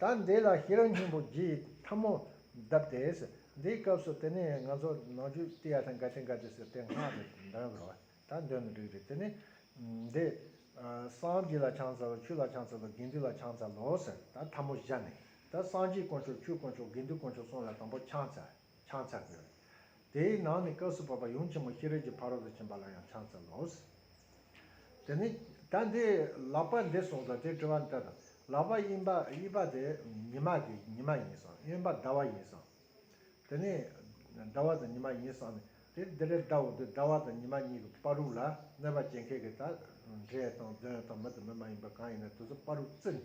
ད་འདི་ལ་ཤེས་རབ་སྙིང་པོ་བརྒྱའི་ཐབས་མོ་གདབ་སྟེ། འདིའི་སྐབས་སུ་དེ་ནས་ང་ཚོ་ནང་བཅུད་ཏི་ཡ་དང་ག་ཏི་འགའ་ཏི་སེ་སྟེ་སྔགས་རེ་འདོན་དགོས། ད་འདོན་ནི་འགྲིག་རེད་དེ་ནི། འདི། སངས་རྒྱས་ལ་ཆང་བཙལ་ལོ་ཆུ་ལ་ཆང་བཙལ་ལོ་དགེ་འདུན་ལ་ཆང་བཙལ་ལོ་ཟེར། ད་ཐབས་མོ་བཞག་ནས། ད་སངས་རྒྱས་དཀོན་མཆོག་ཆུ་དཀོན་མཆོག་དགེ་འདུན་དཀོན་མཆོག་གསུམ་ལ་དང་པོ་ཆང་བཙལ། ཆང་ཚ་དགོས། དེའི་ནང་ནས་སྐབས་སུ་བབ་པ་ཡུམ་ཆེན་མོ་ཤེས་རབ་ཀྱི་ཕ་རོལ་ཏུ་ཕྱིན་པ་ལ་ཡང་ཆང་ཚལ་ལོ། དེ་ནས་ད་འདི་ལག་པ་འདི་གསུངས་སོ་དེ་དྲི་བ་འདི་དང་ལག་པ་གཡིན་པ་གཡིས་པ་དེ་ཉི་མ་དེ་ཉི་མ་ཡིན་སང་གཡོན་པ་ཟླ་བ་ཡིན་སང། དེ་ནས་ཟླ་བ་དང་ཉི་མ་ཡིན་སང་ནས་དེ་འདི་རེ་ཟླ་འོ་འདི་ཟླ་བ་དང་ཉི་མ་གཉིས་ཀྱི་དཔའ་རུག་ལ་གནོད་པ་བྱེད་མཁན་གྱི་ད་འབྲས་དང་གདོན་དང་མི་དང་མི་མ་ཡིན་པ་གང་ཡིན་ན་དེ་ཚོ་དཔའ་རུག་བརྩི་ནས།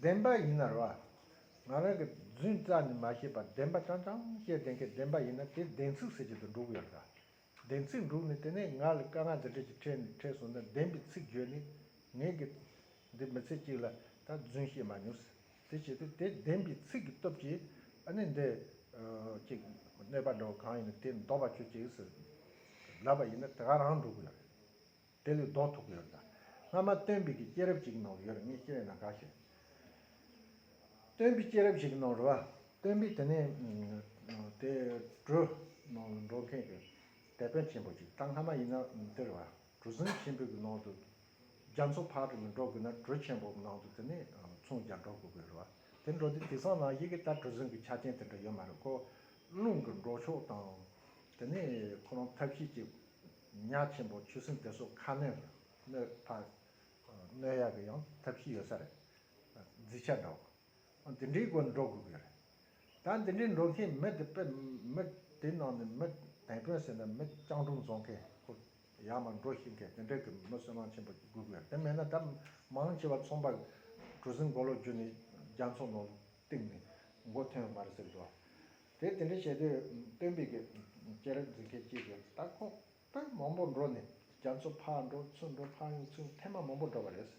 བདེན་པ་ཡིན་ན་རེ་བ། ང་རང་གིས་རྫུན་རྩ་ནས་མ་ཤེས་པར་བདེན་པ་ཀྲང་ཀྲང་ཅེས་བདེན་ཁའི་བདེན་པ་ཡིན་ན་དེ་བདེན་ཚིག་ཟེར་གྱི་འདུག་འགྲུག་ཡོད་ལ། བདེན་ཚིག་འགྲུག་ནས་དེ་ནས་ངག་ལ་དཀའ་ངལ་འདི་འདྲ་ཞིག་འཕྲད་ནས་འཕྲད་སོང་ན་བདེན་པའི་ཚིག་བརྗོད་ནས་ངས་གི། འདི་མི་ཚེ་གཅིག་ལ་ད་རྫུན་བཤད་མ་མྱོང་ཟེར། དེ་བྱས་ཏེ་དེ་བདེན་པའི་ཚིག་གི་སྟོབས་ཀྱིས་ཨ་ནི་འདི། ཅིག། གནོད་པ་འདྲ་བོ་གང་ཡིན་ན་དེ་འདོགས་པ་བྱོས་ཅིག་ཟེར། ལབ་པ་ཡིན་ན་དེ་ག་རང་འགྲུག་གི་ཡོད་རེད། དེ་ལས་ལྡོག་ཐུབ་ཀྱི་ཡོད་དམ། སྔ་མ་སྟོན་པའི་གི་སྐྱེས་རབས་ཅིག་ནང་ཡོད་རེད་ངས་ཤེས་བས་ན་དགའ་ཞེས། སྟོན་པའི་སྐྱེས་རབས་ཞིག་ནང་རེད་བ། སྟོན་པས་དེ་ནས་དེ་གྲུ་ནང་འགྲོ་མཁན་གྱི་དེད་དཔོན་ཆེན་པོ་ཅིག་གྲངས་སྔ་མ་ཡིན་ན་དེ་རེད་བ། གྲུ་གཟིངས་ཆེན་པོའི་གི་ནང་དུ་རྒྱ་མཚོ་ཕར་དེ་ནས་འགྲོ་དགོས་ན་གྲུ་ཆེན་པོ་ནང་དུ་དེ་ནས་མཚུངས་རྒྱ་འགྲོ་དགོས་གི་རེད་བ། དེ་འགྲོ་དུས་དེ་སང་ན་ཡི་གི་ད་གྲུ་གཟིངས་གི་ཆ་ཅན་དེ་འདྲ་ཡོད་མ་རེད་ཀོ། རླུང་གི་འགྲོ་ཕྱོགས་དང་དེ་ནས་ཁོ་རང་ཐབས་ཤེས་ཀྱི། ཉག་ཆེན་པོ་ཆུ་སྲིན་དེ་སོགས་ཁ་སྣོད་ཀྱི་སྣོད་ཕག་སྣོད་ཡག་གི་ཡང་ཐབས་ཤེས་ཡོད་ས་རེད། བརྫི་ཆ་འདྲ་བོ། འདི་འདྲའི་སྒོ་འགྲོ་དགོས་ཀྱི་རེད། ད་འདི་འདྲའི་འགྲོ་མཁན་མི་དེ་དཔེ་མི་དེ་ནང་ནས་མི་དེད་དཔོན་ཟེར་ན་མི་སྤྱང་གྲུང་བཟོ་མཁན་ཁོ་ཡག་མ་འགྲོ་ཤེས་མཁན་དེ་འདྲ་གི་མི་སུན་སྣང་ཆེན་པོ་ཞིག་དགོས་ཀྱི་རེད་དེ་མེད་ན་ད་མང་ཆེ་བ་ཚོང་པ་གྲུ་གཟིངས་མགོ་ལོག་རྒྱུ་ནས་རྒྱ་མཚོ་ནང་བཏིང་ནས་མགོ་ཐོན་ཡོད་མ་རེད་ཟེར་གྱི་རེད། དེ་དེ་འདྲ་བྱེད་དུས་སྟོན་པའི་གི་སྐྱེས་རབས་འཛིན་མཁན་གཅིག་གིས་ད་ཁོང་པས་མང་པོ་འགྲོ་ནས་རྒྱ་མཚོ་ཕར་འགྲོ་ཚུར་འགྲོ་ཕར་ཡོང་ཚུར་ཡོང་ཐེངས་མ་མང་པོ་འགྲོ་བ་རེད།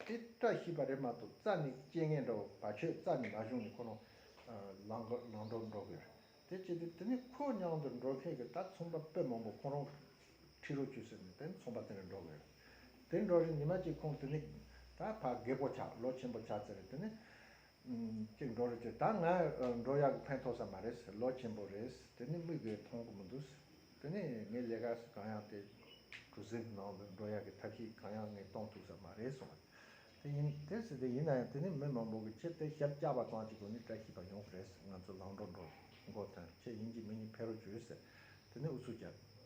དེ་བཀྲ་ཤིས་པ་རེད་མ་གཏོགས་རྩྭ་ནི་སྐྱེ་ངེས་འདྲ་བོ་བ་ཁྱོད་རྩྭ་ནི་མ་བྱུང་ནས་ཁོ་རང་ལང་འགྲོ་འགྲོ་གི་རེད་དེ་བྱེད་དུས་དེ་ནི་ཁོའི་མྱང་དུ་འགྲོ་མཁན་གི་ད་ཚོང་པ་དཔེ་མང་པོ་ཁོང་རང་ཁྲི་རུ་བཅུ་ཟེར་ནས་དེ་ནི་ཚོང་པ་དེ་ནས་འགྲོ་གི་རེད་དེ་འགྲོ་རིང་ཉི་མ་གཅིག་ཁོང་དེ་ནི་ད་བག་གེ་པོ་ཆགས་ལོ་ཆེན་པོ་ཆགས་ཚར་རེད་དེ་ནི་གཅིག་འགྲོ་རེ་བྱོས་ད་ང་འགྲོ་ཡག་ཕན་ཐོག་ས་མ་རེད་ལོ་ཆེན་པོ་རེད་དེ་ནི་དམིགས་དགོས་མཐོང་གི་མི་འདུག་དེ་ནི་ངའི་ལས་ཀ་གང་ཡག་དེ་གྲུ་གཟིངས་ནང་དུ་འགྲོ་ཡག་གི་ཐབས་ཤེས་གང་ཡག་ངས་གཏོང་ཐུབ་ས་མ་རེད་གསུངས་པ་དེ་ཡིན་དེ་སྲིད་དུ་ཡིན་ན་ཡང་དེ་ནི་མི་མང་པོ་གི་ཆེད་དེ་ཞབས་བཅགས་པ་ཙང་གཅིག་པོ་ནི་བཀྲ་ཤིས་པ་ཡོང་གི་རེད་ང་ཚོ་ལང་འགྲོ་འགྲོ་མགོ་ཐོན་ཁྱེད་ཡིན་གྱི་མིན་གྱི་ཕེ་རོ་བྱོས་ཟེར་དེ་ནི་ཨུ་ཚུགས་བྱས།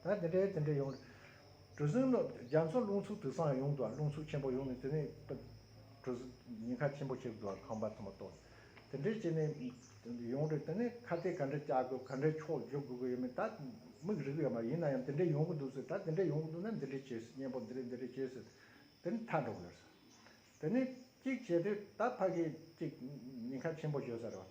ད་དེ་འདྲའི་དེ་འདྲའི་ཡོང། གྲུ་གཟིངས་ནོར་རྒྱ་མཚོ་རླུང་འཚུབ་དུས་སང་ཡོང་འདུག་རླུང་འཚུབ་ཆེན་པོ་ཡོང་ནས་དེ་ནས་གྲུ་ཉེན་ཁ་ཆེན་པོ་ཆེ་འདུག་ཁང་པ་ཚང་མ་གཏོར། དེ་འདྲའི་བྱས་ནས་ཡོང་རེད་དེ་ནས་ཁ་གཏད་ག་འདྲ་བཅག་དགོས་ག་འདྲའི་ཕྱོགས་བསྒྱུར་དགོས་གི་ཡོད་མེད་ད་དམིགས་རིག་གི་ཡོད་མ་རེད་ཡིན་ན་ཡང་དེ་འདྲའི་ཡོང་གི་འདུག་ཟེར་ད་དེ་འདྲའི་ཡོང་གི་འདུག་ན་འདི་འདྲའི་བྱེད་སྲིད་གཉེན་པོ་འདི་རེད་འདི་རེད་བྱེད་ཟེར་དེ་ནས་མཐའ་འགྲོ་གི་ཡོད་ཟེར། དེ་ནས་གཅིག་བྱས་དུས་ད་ཕ་གིས་གཅིག་ཉེན་ཁ་ཆེན་པོ་བྱོས་ཟེར་རེད་བ།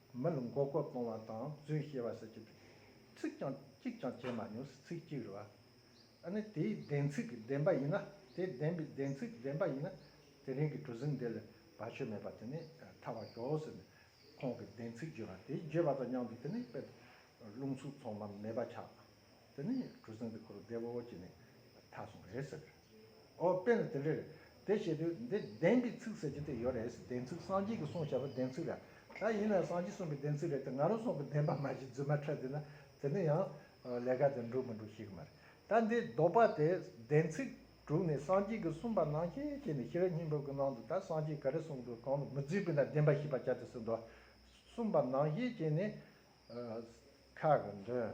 མི་ལ་མགོ་སྐོར་གཏོང་བ་དང་རྫུན་བཤད་པ་སོགས་ཀྱི་ཚིག་རྐྱང་གཅིག་ཀྱང་བྱས་མ་མྱོང་ཚིག་གཅིག་རེ་བ། ཨ་ནི་དེའི་བདེན་ཚིག་གི་བདེན་པ་ཡིན་ན་དེ་བདེན་པའི་བདེན་ཚིག་བདེན་པ་ཡིན་ན་དེ་རིང་གི་གྲུ་གཟིངས་འདི་ལས་བར་ཆོད་མེད་པ་དེ་ནི་ཐར་བར་ཤོག་ཟེར་ནས་ཁོང་གི་བདེན་ཚིག་བརྗོད་པ་དེ་བརྗོད་པ་དང་མཉམ་དུ་དེ་ནི་དཔེར་རླུང་ཚུགས་ཚང་མ་མེད་པ་ཆགས། དེ་ནས་གྲུ་གཟིངས་དེ་འཁོར་བདེ་བོ་བོ་ཅི་ནས་ཐག་སོང་རེད་ཟེར། ཨོ་དཔེ་ན་དེ་འདྲས་དེ་བྱས་དུས་འདི་བདེན་གྱི་ཚིག་ཟེར་གྱི་དེ་ཡོད་རེད་བདེན་ཚིག་སངས་རྒྱས་ཀྱི་གསུང་བྱ་བ་བདེན་ཚིག་ར་ད་ཡིན་ན་སངས་རྒྱས་གསུང་གི་བདེན་ཚིག་རེད་དེ་ང་རང་སོང་གི་བདེན་པ་མ་གཞི་རྫུན་མ་ཁྲ་དེ་ན་དེ་ནི་ཡང་ལས་ཀ་དེ་འགྲུབ་མི་འགྲུབ་ཤེས་གི་མ་རེད་ད་འདི་ལྡོག་པ་དེ་བདེན་ཚིག་དྲུག་ནས་སངས་རྒྱས་ཀྱི་གསུང་པ་ནང་ཤེས་ཤེས་ནས་ཤེས་རབ་སྙིང་པོ་གི་ནང་དུ་ད་སངས་རྒྱས་ག་རེ་གསུང་འདུག་གང་ལ་མི་རྫུས་པའི་ན་བདེན་པ་ཤེས་པ་བྱ་དེ་སུ་འདུག་གསུང་པ་ནང་ཤེས་བྱས་ནས། ཁ་གི་འདོན།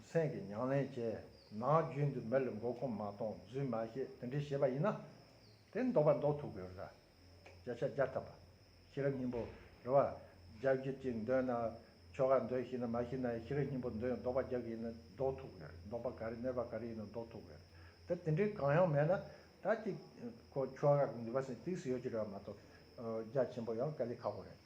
སེམས་ཀྱི་མྱང་ལེན་བྱས། ནང་རྒྱུན་དུ་མེ་ལས་འགོ་སྐོམ་མ་གཏོང་རྫུན་མ་བཤད་དེ་འདྲས་བྱས་པ་ཡིན་ན། དེ་འདོགས་པ་འདོགས་ཐུབ་དགོས་ར། བརྒྱ་ཆ་བརྒྱ་ཐབས་པ། ཤེས་རབ་སྙིང་པོ་རེད་བ། རྒྱ་བསྒྱུར་གྱིས་འདོན་ན། ཆོ་ག་འདོན་ཤེས་ན་མ་ཤེས་ན་ཤེས་རབ་སྙིང་པོ་འདོན་འདོགས་པ་རྒྱག་གི་ཡིན་ན་འདོགས་ཐུབ་དགོས་རེད་འདོགས་པ་ག་རེ་གནས་པ་ག་རེ་ཡིན་ན་འདོགས་ཐུབ་དགོས་རེད་དེ་འདྲས་གང་ཡང་མེད་ན། ད་ཅིག། ཆོ་ག་གི་འདུལ་བ་སེམས་གཏིང་སུ་ཡོད་ཀྱི་རེད་བ་མ་གཏོགས། རྒྱ་ཆེན་པོ་ཡང་དཀའ་ལས་ཁག་པོ་རེད།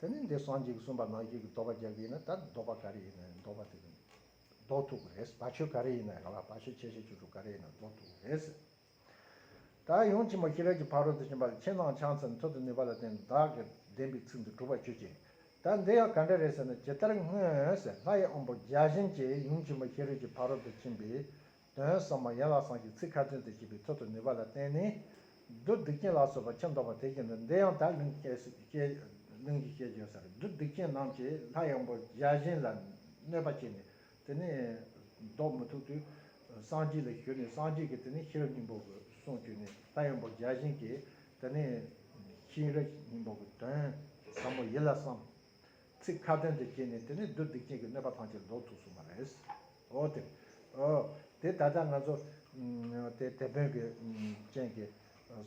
དེ་ནས་འདིར་སངས་རྒྱས་གསུངས་པ་ནང་བཞིན་གྱི་ཟློག་པ་རྒྱག་གི་ཡིན་ན་ད་ཟློག་པ་ག་རེ་ཡིན་ན་ཟློག་པ་དེ་ཟློག་ཐུབ་ཀྱི་རེད་བ་ཆོས་ག་རེ་ཡིན་ན་ག་ལ་བ་ཆོས་ཆེ་ཆེ་ཆུང་ཆུང་ག་རེ་ཡིན་ན་ཟློག་ཐུབ་ཀྱི་རེད། ད་ཡོངས་ཆེན་མོ་ཤི་རལ་གྱི་ཕ་རོལ་ཏུ་ཕྱིན་པ་ལ་ཕྱི་ནང་ཕྱག་མཚན་ཐོད་དུ་ནུས་པ་ལ་བརྟེན་བདག་གིས་བདེན་པའི་ཚིག་འདི་གྲུབ་པར་བྱོས་ཀྱི། ད་འདི་ཡང་ག་འདྲ་རེད་ཟེར་ན་ཇི་ལྟར་སྔོན་ལྷ་ཡི་དབོན་པོ་བརྒྱ་བྱིན་གྱིས་ཡོངས་ཆེན་མོ་ཤི་རལ་གྱི་ཕ་རོལ་ཏུ་ཕྱིན་པའི་དོན་གསང་མ་ཡན་ལག་ཚང་གི་ཚིག་ཁ་ཏོན་དུ་བྱས་པའི་ཐོད་དུ་ནུས་པ་ལ་བརྟེན་ནས། བདུད་སྡིག་ཅན་ལ་སོགས་པ་ཁྱིམ་བདག་པོ་དེ་བཞིན་དུ་འདི་ཡང་དག་གླིང་གི་སྐྱེས་བརྗོད་ཟེར་བདུད་སྡིག་ཅན་རྣམས་ཀྱིས་ལྷ་ཡངས་པོ་བརྒྱ་བྱིན་ལ་གནོད་པ་བྱས་ནས་དེ་ནི་བཟློག་མི་ཐུབ་དུས། སངས་རྒྱས་ལ་ཞུས་ནས་སངས་རྒྱས་ཀྱིས་དེ་ནི་ཤེས་རབ་སྙིང་པོ་གི་གསུང་བརྗོད་ནས་ལྷ་ཡངས་པོ་བརྒྱ་བྱིན་གྱིས་དེ་ནི་ཤེས་རབ་སྙིང་པོ་གི་དོན་ཟབ་མོ་ཡིད་ལ་བསམ། ཚིག་ཁ་ཏོན་དུ་བྱས་ནས་དེ་ནས་བསྡུ་བསྡིགས་ཅན་གྱི་གནོད་པ་ཐམས་ཅད་ཟློག་ཐུབ་སོང་བ་རེད། འོ་དེ། འོ། དེ་ད་ལྟ་ང་ཚོ། དེ་དེད་དཔོན་གྱི། ཅན་གྱིས།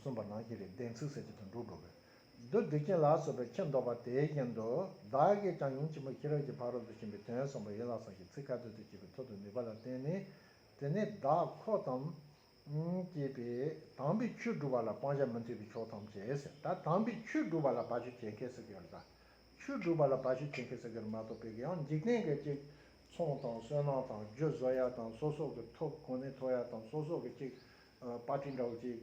གསུངས་པ་ནང་བཞིན་རེད་བདེན་ཚིག་ཟེར་གྱི་དོན་འགྲུབ་འགྲོ་གི། བསྡུ་བསྡིགས་ཅན་ལ་སོགས་པའི་ཁྱི་མདོག་པ་དེའི་རྐྱེན་དུ་བདག་གིས་ཀྱང་ཉིན་གཅིག་མོ་ཤེས་རབ་ཀྱི་ཕ་རོལ་ཏུ་ཕྱིན་པའི་དོན་གསུངས་པ་ཡིན་ལགས་སམ་ཞེས་ཚིག་ཁ་ཏོན་དུ་བྱས་པའི་ཐོག་ཏུ་ནུས་པ་ལ་བརྟེན་ནས་དེ་ནས་བདག་ཁོག་ཙམ། ཅེས་པས་དྭངས་པའི་ཆོས་བསྒྲུབ་པ་ལ་སྤང་བྱ་མི་མཐུན་པའི་ཕྱོགས་ཐམས་ཅད་ཟེར། ད་དྭངས་པའི་ཆོས་བསྒྲུབ་པ་ལ་བ་ཆོས་བྱེད་མཁས་ས་གི་ར། ཆོས་བསྒྲུབ་པ་ལ་བ་ཆོས་བྱེད་མཁས་ས་གི་ར་མ་གཏོགས་པའི་གི་ཡང་འཇིག་རྟེན་གྱི་གཅིག། ཚོང་དང་བསོད་ནམས་དང་རྒྱུ་བཟོ་ཡ་དང་སོ་སོགས་ཀྱི་ཐོབ་གོ་ནས་ཐོབ་ཡ་དང་སོ་སོགས་ཀྱི་གཅིག། པ་ཏི་འདྲ་བོ་གཅིག།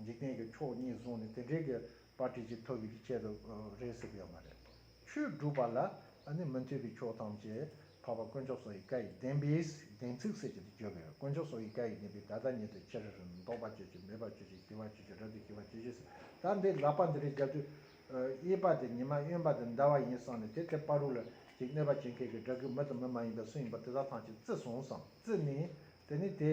འཇིག་རྟེན་གྱི་ཕྱོགས་གཉིས་བཟུང་ནས་དེ་འབྲེལ་གྱི་པ་དྲི་ཆུ་ཐོབ་པའི་ཆེད་དུ་རེད་ཟེར་གྱི་ཡོད་མ་རེད། ཆུ་བསྒྲུབ་པ་ལ་ནི་མི་མཐུན་པའི་ཕྱོགས་ཐམས་ཅད་འཕགས་པ་དཀོན་མཆོག་སོ་ཡི་བཀའ་ཡི་བདེན་པས་བདེན་ཚིག་ཟེར་གྱི་འདུག་བརྗོད་གི་ཡོད་དཀོན་མཆོག་སོ་ཡི་བཀའ་ཡི་བདེན་པས་ད་ལྟ་ཉིད་དུ་ཆེར་འདོགས་པར་བྱེད་ཅིག་མེད་པར་བྱེད་ཅིག་ཞི་བར་བྱེད་ཅིག་རབ་ཏུ་ཞི་བར་བྱེད་ཅིག་ཟེར་ད་འདི་ལག་པ་འདི་རིགས་བརྒྱབ་དུས་གཡས་པ་དེ་ཉི་མ་གཡོན་པ་དེ་ཟླ་བ་ཡིན་བསམ་ནས་དེ་ཐད་པ་རུ་ལ་ཅིག་གནོད་པ་བྱེད་མཁན་གྱི་དགྲ་གི་མི་དང་མི་མ་ཡིན་པའི་སུ་ཡིན་པ་དེ་དག་ཐང་ཅིག་བརྩི་སོང་བསམ་བརྩི་ནས་དེ་ནི་དེ་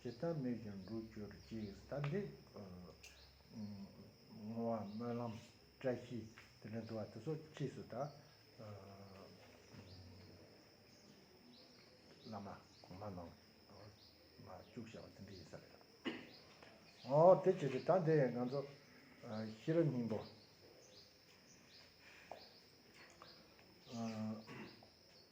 ཇི་ལྟར་མོས་ཀྱང་འགྲུབ་གྱུར་ཅིག་ས་འདེགས་བསྔོ་བ་སྨོན་ལམ་བཀྲ་ཤིས་དེ་ལས་འདུ་བ་དེ་སོགས་ཀྱི་ཕྱིས་སུ་ད་བླ་མ་གོང་མ་ནང་མ་བཅུག་བྱ་བ་འདི་འདྲ་ཡིན་ས་རེད། ཨོ་དེ་ཅི་རེད་ད་འདི་ཡང་ང་ཚོ་ཤེས་རབ་སྙིང་པོ།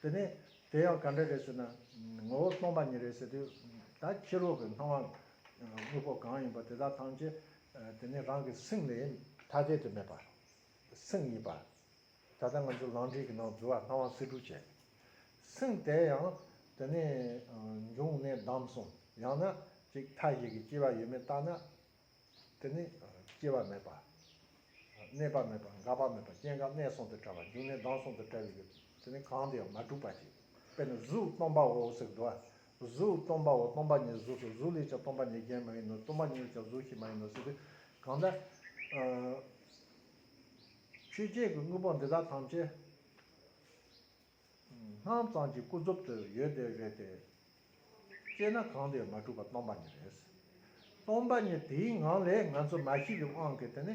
དེ་ནས་དེ་ཡང་ག་འདྲ་རེད་ཟེར་ན། ངོ་བོ་སྟོང་པ་ཉིད་རེད་ཟེར་དུས། ད་ཕྱི་རོལ་གྱི་སྣང་བ་དངོས་པོ་གང་ཡིན་པ་དེ་དག་ཐམས་ཅད་དེ་ནི་རང་གི་སེམས་ལས་ཐ་དད་དུ་མེད་པ། སེམས་ཡིན་པ། ད་ལྟ་ང་ཚོས་ལམ་འབྲས་ཀྱི་ནང་རྫུ་བ་སྣང་བ་སེལ་སྒྲུབ་བྱས། སེམས་དེ་ཡང་དེ་ནས་འབྱུང་གནས་བསྡམས་སོང་ཡང་ན་ཅིག་མཐའ་ཞིག་གི་སྐྱེ་བ་ཡོད་མེད་བརྟགས་ན། དེ་ནི། སྐྱེ་བ་མེད་པ། གནས་པ་མེད་པ་འགག་པ་མེད་པ་སྐྱེ་འགག་གནས་གསུམ་དུ་བྲལ་བ་འབྱུང་གནས་ལྡང་གསུམ་དུ་བྲལ་བའི་ཡུལ་དེ་ནི་གང་དུ་ཡང་མ་གྲུབ་པ་ཅིག་དཔེར་ན་གཟུགས་སྟོང་པའོ་ཟེར་གདུལ་བ་གཟུགས་སྟོང་པའོ་སྟོང་པ་ཉིད་གཟུགས་སོ་གཟུགས་ལས་ཀྱང་སྟོང་པ་ཉིད་གཞན་མ་ཡིན་ནོ་སྟོང་པ་ཉིད་ལས་ཀྱང་གཟུགས་གཞན་མ་ཡིན་ནོ་ཟེར་ཏེ། གང་དག། ཆོས་ཅན་གྱི་དངོས་པོ་འདི་དག་ཐམས་ཅད། སྣང་གཙང་གི་སྐུ་རྫོབ་ཏུ་ཡོད་བསྡད་རེད་དེ། དཔྱད་ན་གང་དེའི་མ་གྲུབ་པ་སྟོང་པ་ཉིད་རེད། སྟོང་པ་ཉིད་དེའི་ངང་ལས་ང་ཚོ་མ་ཤི་བའི་དབང་གིས་དེ་ནི་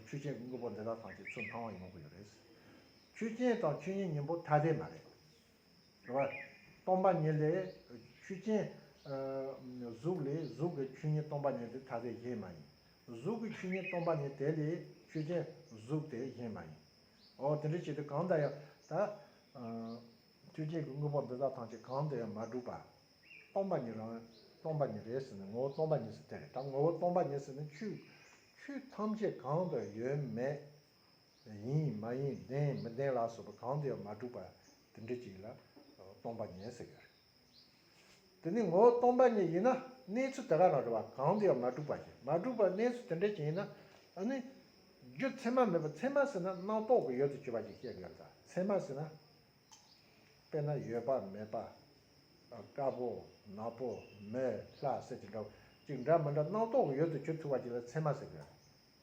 ཆོས་ཅན་གྱི་དངོས་པོ་འདི་དག་ཐམས་ཅད་ཚུར་སྣང་བ་ཡོང་གི་ཡོད་རེད། ཆོས་ཅན་དང་ཆོས་ཉིད་གཉིས་པོ་ཐ་དད་མ་རེད། དེ་བས། སྟོང་པ་ཉིད་ལས་ཆོས་ཅན། གཟུགས་ལས་གཟུགས་ཀྱི་ཆོས་ཉིད་སྟོང་པ་ཉིད་དེ་ཐ་དད་གཞན་མ་ཡིན། གཟུགས་ཀྱི་ཆོས་ཉིད་སྟོང་པ་ཉིད་དེ་ལས་ཆོས་ཅན་གཟུགས་དེ་གཞན་མ་ཡིན། འོ་དེ་འདྲ་བྱས་ཏེ་གང་དུ་ཡང་ད། མཐུ་ཆེན་གྱི་དངོས་པོ་འདི་དག་ཐམས་ཅད་གང་དུ་ཡང་མ་གྲུབ་པར། སྟོང་པ་ཉིད་རང། སྟོང་པ་ཉིད་རེད་ཟེར་ནས་ངོ་བོ་སྟོང་པ་ཉིད་ཟེར་ཐལ། ད་ངོ་བོ་སྟོང་པ་ཉིད་ཟེར་ནས་ཆུ། ཆུ་ཐམས་ཅད་གང་དུ་ཡོད་མེད། ཡིན་མ་ཡིན་བདེན་མི་བདེན་ལ་སོགས་པ་གང་དུ་ཡང་མ་གྲུབ་པར་དེ་འདྲ་བྱས་ལ། སྟོང་པ་ཉིད་ཟེར་གྱི་རེད། དེ་ནི་ངོ་བོ་སྟོང་པ་ཉིད་ཡིན་ན་གནས་ཚུལ་དེ་ག་ལ་རེ་བ་གང་དུ་ཡང་མ་གྲུབ་པ་བཞིན་མ་གྲུབ་པར་གནས་ཚུལ་དེ་འདྲ་ཞིག་ཡིན་ན་ནི། རྒྱུ་མཚན་མ་མེད་པར་མཚན་མ་ཟིན་ན་སྣང་རྟོག་གི་ཡོད་དོ་ཅོག་པ་ཞིག་བཤད་གི་ཡོད་ལ་མཚན་མ་ཟིན་ན། དཔེར་ན་ཡོད་པ་མེད་པ། དཀར་པོ་ནག་པོ་མེ་ལྷ་ཟེར་གྱི་འདྲ་བ་ཅིག་འདྲ་མི་འདྲ་སྣང་རྟོག་གི་ཡོད་དོ་ཅོག་ཐུག་པ་ཞིག་ལ་མཚན་མ་ཟེར་གི་ཡོད།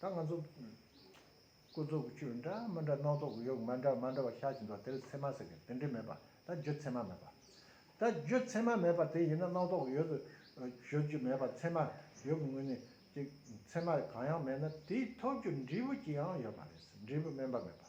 ད་ང་ཚོ། སྐུ་རྫོགས་ཀྱི་ཆོས་འདྲ་མི་འདྲ་སྣང་རྫོགས་ཀྱི་ཡོད་མ་འདྲ་མ་འདྲ་བ་ཤར་གྱི་འདུག་དེ་ལ་ཚད་མ་ཟེར་གི་དེ་འདྲས་མེད་པ་ད་རྒྱུ་ཚད་མ་མེད་པ། ད་རྒྱུ་ཚད་མ་མེད་པ་དེ་ཡིན་ན་སྣང་རྫོགས་ཀྱི་ཡོད་དུ་བརྗོད་ཀྱི་མེད་པ་ཚད་མ་ཡོད་པའི་ངོས་ནས་ཀྱི་ཚད་མ་གང་ཡང་མེད་ན་དེའི་ཐོབ་རྒྱུ་འབྲས་བུ་ཅི་ཡང་ཡོད་པ་རེད་འབྲས་བུ་དམན་པ་མེད་པ།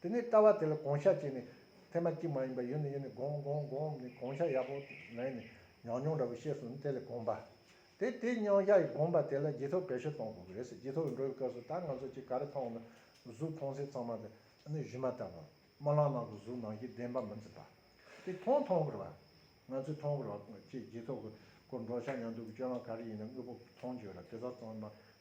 དེ་ནས་ལྟ་བ་དེ་ལ་གོང་ཤ་བྱས་ནས། ཚད་མ་གཅིག་མ་ཡིན་པ་ཡོད་ནི་ཡོད་ནི་བསྒོམ་བསྒོམ་བསྒོམ་ནས་གོང་ཤ་ཡག་པོ་ལེན་ནས་ཉག་ཉོག་འདྲ་བོ་ཤེས་སོང་ནས་དེ་ལས་བསྒོམ་པ། དེ་དེ་ཉོག་ཤ་ཡི་བསྒོམ་པ་དེ་ལ་རྗེས་ཐོབ་གལ་ཤོས་གཏོང་དགོས་ཀྱི་རེད་ཟེར་རྗེས་ཐོབ་འགྲོ་བའི་སྐབས་སུ་ད་ང་ཚོ་གཅིག་ག་རེ་མཐོང་ན་གཟུགས་མཐོང་སའི་ཚང་མ་དེ་ནི་གཞི་མ་ལྟ་བུ། དམར་ལམ་ནང་དུ་གཟུགས་ནང་གི་བདེན་པ་མི་འཛིན་པ། དེ་མཐོང་མཐོང་དགོས་ར། ང་ཚོས་མཐོང་དགོས་ར་ཅེས་རྗེས་ཐོབ་ཀྱི་སྐོར་འགྲོ་ཤ་ཉག་འདུག་གི་སྤྱོད་ལམ་ག་རེ་ཡིན་ན་དངོས་པོ་མཐོང་བརྗོད་ར་དེ་དག་ཚང་མ་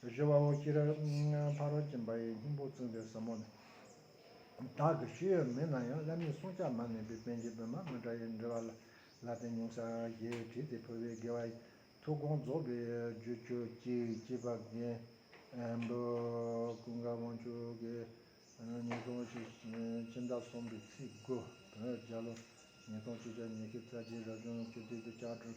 གཞོལ་བ་འོག་ཁྱི་རལ། ཕ་རོལ་གྱིན་པ་ཡི་སྙིང་པོ་མཚོན་པའི་ཟབ་མོ་ནི། བདག་གི་ཤེས་ཡོན་མེད་ན་ཡང་བླ་མའི་གསུང་ཆ་མ་ངེས་པའི་དཔལ་གྱི་སྦོས་མ་མི་འདྲ་ཡི་འབྲེལ་བ་ལ་ལ་དེ་ཉུང་ས་ཞེས་བྲིས་ཏེ་ཕུལ་བས་དགེ་བ་ཡི། ཐུགས་དགོངས་རྫོགས་པའི་རྒྱུ་ཆོས་ཀྱི་སྐྱེས་པ་རྒན། འབོད། ཀུན་དགའ་དབང་ཕྱུག་གི། ཉིས་སྟོང་གཅིག། སྤྱི་ཟླ་གསུམ་པའི་ཚེས་དགུ། བོད་རྒྱལ་ལོ། ཉིས་སྟོང་གཅིག་ཕྱག་ཉི་ཤུ་རྩ་གཅིག་རབ་བྱུང་སྤྱི་འཐུས་ཀྱི་ལྕགས་སྒྲོག།